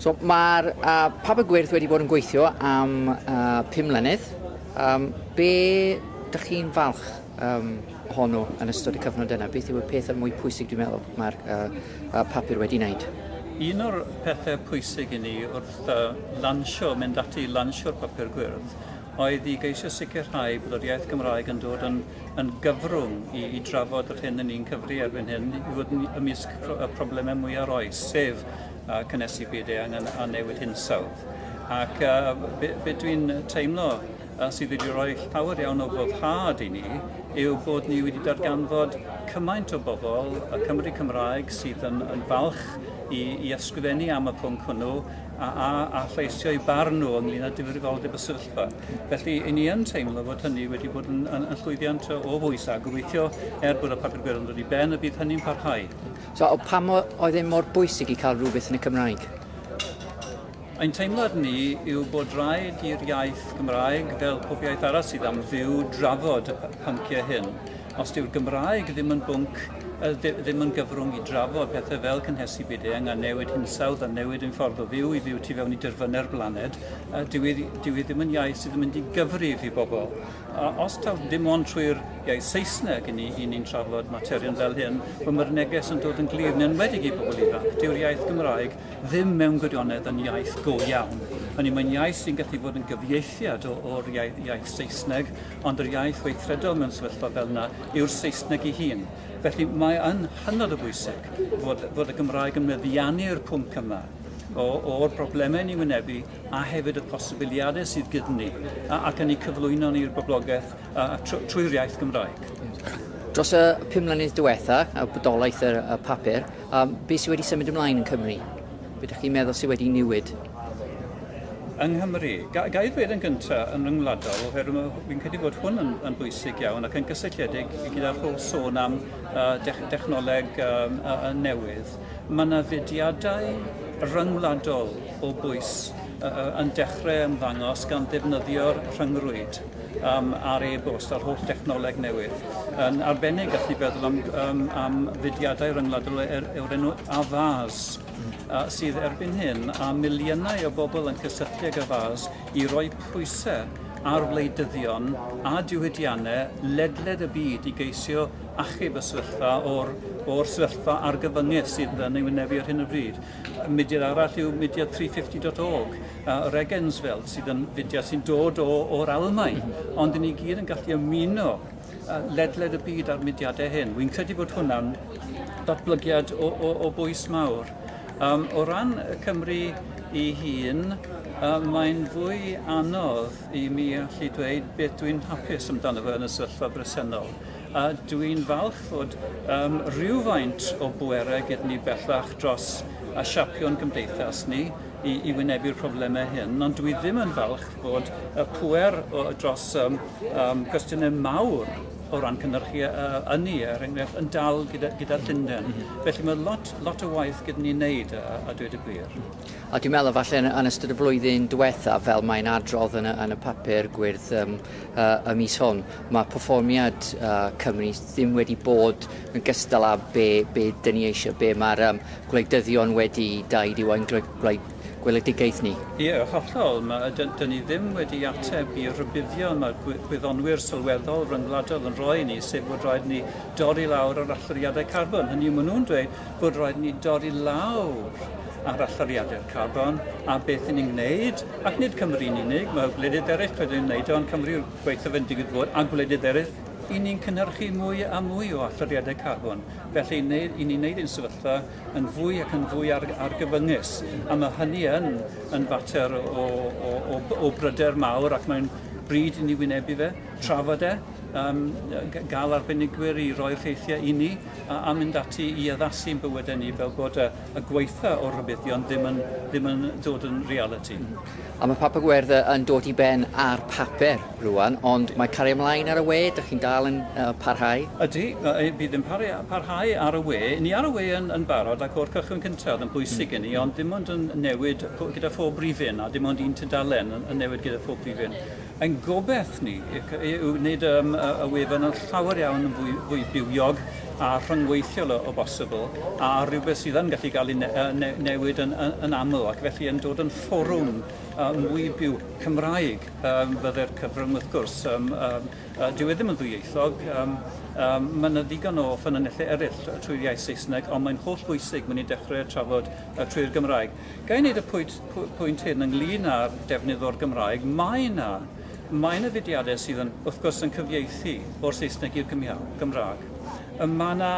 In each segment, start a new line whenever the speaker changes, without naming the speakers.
So mae'r uh, papur gwyrdd wedi bod yn gweithio am uh, 5 mlynedd. Um, be dych chi'n falch um, honno yn ystod y cyfnod yna? Beth yw'r peth yn mwy pwysig dwi'n meddwl mae'r uh, uh, papur wedi wneud? Un o'r
pethau pwysig i ni wrth uh, lansio, mynd ati i lansio'r papur gwyrdd, oedd i geisio sicrhau bod yr iaith Gymraeg yn dod yn yn gyfrwng i, i drafod yr hyn yn ni'n cyfri erbyn hyn i fod yn ymysg y problemau mwyaf roes, sef uh, cynnesu byd eang a newid hinsawdd. Ac uh, be, be dwi'n teimlo uh, sydd wedi rhoi llawer iawn o foddhad i ni yw bod ni wedi darganfod cymaint o bobl, y Cymru Cymraeg, sydd yn, yn falch i, i ysgrifennu am y pwnc hwnnw a, a, a lleisio i barn nhw ynglyn â difrifoldeb y sefyllfa. Felly, i ni yn teimlo fod hynny wedi bod yn, yn, yn llwyddiant o bwys a gobeithio er bod y papur gweron dod i ben y bydd hynny'n parhau. So, o pam
oedd e mor bwysig i cael rhywbeth yn y Cymraeg?
Ein teimlad ni yw bod rhaid i'r iaith Gymraeg, fel pob iaith arall sydd am fyw, drafod y pynciau hyn. Os dyw'r Gymraeg ddim yn bwnc, ddim yn gyfrwng i drafod pethau fel cynhesu byd eang a newid hinsawdd a newid ein ffordd o fyw i fyw tu fewn i dirfynnau'r blaned, A dyw hi, dyw hi ddim yn iaith sydd yn mynd i gyfrif i bobl. A os taw dim ond trwy'r iaith Saesneg i ni, i ni'n trafod materion fel hyn, fy mae'r neges yn dod yn glir, yn enwedig i bobl ifanc. Dyw'r iaith Gymraeg ddim mewn gwirionedd yn iaith go iawn. Hynny, mae'n iaith sy'n gallu bod yn gyfieithiad o'r iaith, iaith Saesneg, ond yr iaith weithredol mewn sefyllfa fel yna yw'r Saesneg ei hun. Felly mae yn hynod o bwysig fod, fod y Gymraeg yn meddiannu'r pwnc yma. o, o'r broblemau ni wynebu a hefyd y posibiliadau sydd gyda ni ac yn ei cyflwyno ni'r boblogaeth trwy'r iaith Gymraeg. Dros y
pum mlynedd diwetha, a bodolaeth y, y papur, um, beth sydd wedi symud ymlaen yn Cymru? Beth ydych chi'n meddwl sydd wedi newid?
Yng Nghymru, ga, ga i ddweud yn gyntaf yn ryngwladol, oherwydd fi'n credu bod hwn yn, yn bwysig iawn ac yn gysylltiedig gyda'r holl sôn am uh, dech, dechnoleg um, uh, newydd. Mae yna fudiadau rhyngwladol o bwys yn dechrau ymddangos gan ddefnyddio'r rhyngrwyd um, a'r e-bost a'r holl dechnoleg newydd. Yn arbennig, gallwn ni feddwl am, um, am fudiadau rhyngwladol e, er, yw'r enw Avaz, uh, sydd erbyn hyn a miliynau o bobl yn cysylltu ag Avaz i roi pwysau ar wleidyddion a diwydiannau ledled y byd i geisio achub y sefyllfa o'r, o'r sefyllfa argyfyngedd sydd yn ei wynebu ar hyn o bryd. Mudiad arall yw mudiad 350.org, uh, yr Egensfeld, sydd yn fudiad sy'n dod o, o'r Almain, ond i ni gyd yn gallu ymuno uh, ledled y byd a'r mudiadau hyn. Wy'n credu bod hwnna'n datblygiad o, o, o bwys mawr. Um, o ran Cymru i hun, uh, mae'n fwy anodd i mi allu dweud beth dwi'n hapus amdano fe yn y sefyllfa bresennol. a dwi'n falch fod um, rhywfaint o bwerau gyda ni bellach dros a siapion gymdeithas ni i, i wynebu'r problemau hyn, ond dwi ddim yn falch fod y pwer o, dros um, um, gwestiynau mawr o ran cynnyrchu uh, ynni, er enghraifft, yn dal gyda, gyda Llundain. Mm -hmm. Felly mae lot, lot o waith gyda ni'n neud, a, a dweud y gwir. Mm -hmm. A dwi'n meddwl falle
yn, yn ystod y flwyddyn diwetha, fel mae'n adrodd yn y, yn y papur gwyrdd um, y mis hwn. Mae perfformiad Cymru ddim wedi bod yn gystal â be be dyn ni eisiau, be mae'r um, gwleidyddion wedi daid yw ein gweledigaeth ni. Ie, yn hollol.
Mae, dyn, dyn ni ddim wedi ateb i rybuddion mae gwyddonwyr sylweddol ryngwladol yn rhoi i ni, sef bod rhaid ni dorri lawr yr allyriadau carbon. Hynny yw, maen nhw'n dweud bod raid ni dorri lawr ar allyriadur carbon a beth i ni'n wneud, ac nid Cymru'n unig, mae gwledydd eraill wedi wneud o, ond Cymru yw'r gwaethaf yn digwydd bod, a gwledydd eraill, i ni'n cynhyrchu mwy a mwy o allyriadau carbon. Felly, i ni'n wneud ein sefyllfa yn fwy ac yn fwy ar, argyfyngus. A mae hynny yn, yn fater o, o, o, o bryder mawr ac mae'n bryd i ni wynebu fe, trafod e, um, gael arbenigwyr i roi'r rheithiau i ni, a, a mynd ati i addasu yn bywydau ni fel bod y, y gweitha o rybuddion ddim yn, ddim yn dod yn reality. Mm. A mae Papa
Gwerdd yn dod i ben ar papur rwan, ond mae cario ymlaen ar y we, dych chi'n dal yn uh, parhau? Ydy,
bydd yn parhau ar y we. Ni ar y we yn, yn barod ac o'r cychwyn cyntaf oedd yn bwysig mm. i ni, ond dim ond yn newid gyda phob rifyn a dim ond un tudalen yn newid gyda phob rifyn. Ein gobaith ni yw wneud um, y wefan yn llawer iawn yn fwy, fwy bywiog a rhyngweithiol o, o bosibl, a rhywbeth sydd yn gallu cael ei ne, ne, newid yn, yn, yn aml, ac felly yn dod yn fforwm uh, mwy byw Cymraeg um, fydde'r cyfrwng wrth gwrs. Um, um, uh, dyw e ddim yn ddwyieithog, um, um, mae yna ddigon o ffynonellau eraill trwy'r iaith Saesneg, ond mae'n holl bwysig mynd i dechrau trafod uh, trwy'r Gymraeg. Ga i wneud y pwynt, pwynt hyn ynglyn â'r defnydd o'r Gymraeg? Mae yna, mae yna fudiadau sydd yn, wrth gwrs, yn cyfieithu o'r Saesneg i'r Gymraeg. Y mae yna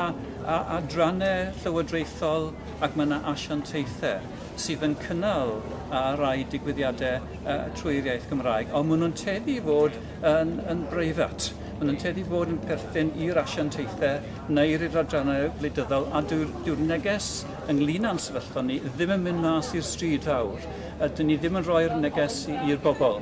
adrannau llywodraethol ac mae yna asiantaethau sydd yn cynnal a rai digwyddiadau uh, trwy'r iaith Gymraeg, ond maen nhw'n teddu i fod yn, yn breifat. Maen nhw'n teddu i fod yn perthyn i'r asiantaethau neu'r adrannau wleidyddol, a dyw'r, dyw'r neges ynglŷn â'n sefyllfa ni, ddim yn mynd mas i'r stryd fawr, a dyn ni ddim yn rhoi'r neges i'r bobl.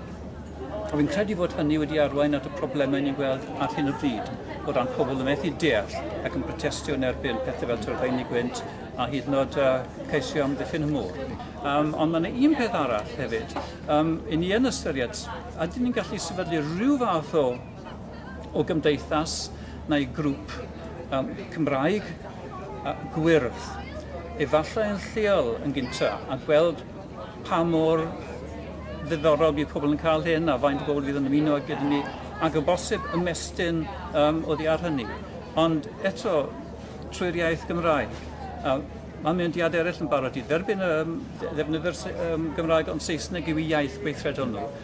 A fi'n credu fod hynny wedi arwain at y problemau ni'n gweld ar hyn o bryd, o ran pobl yn methu deall ac yn protestio yn erbyn pethau fel tyrfaenu gwynt a hyd yn oed uh, ceisio amddiffyn y môr. Um, ond mae yna un peth arall hefyd. Um, I ni yn ystyried, ydyn ni'n gallu sefydlu rhyw fath o o gymdeithas neu grŵp um, Cymraeg uh, gwyrdd, efallai yn lleol yn gynta, a gweld pa mor ddiddorol bydd pobl yn cael hyn a faint o bobl fydd yn ymuno gyda ni, ac o bosib ymestyn um, oddi ar hynny. Ond eto, trwy'r iaith Gymraeg, uh, Mae mynediadau eraill yn barod i dderbyn um, ddefnyddwyr um, Gymraeg ond Saesneg yw iaith gweithredol nhw.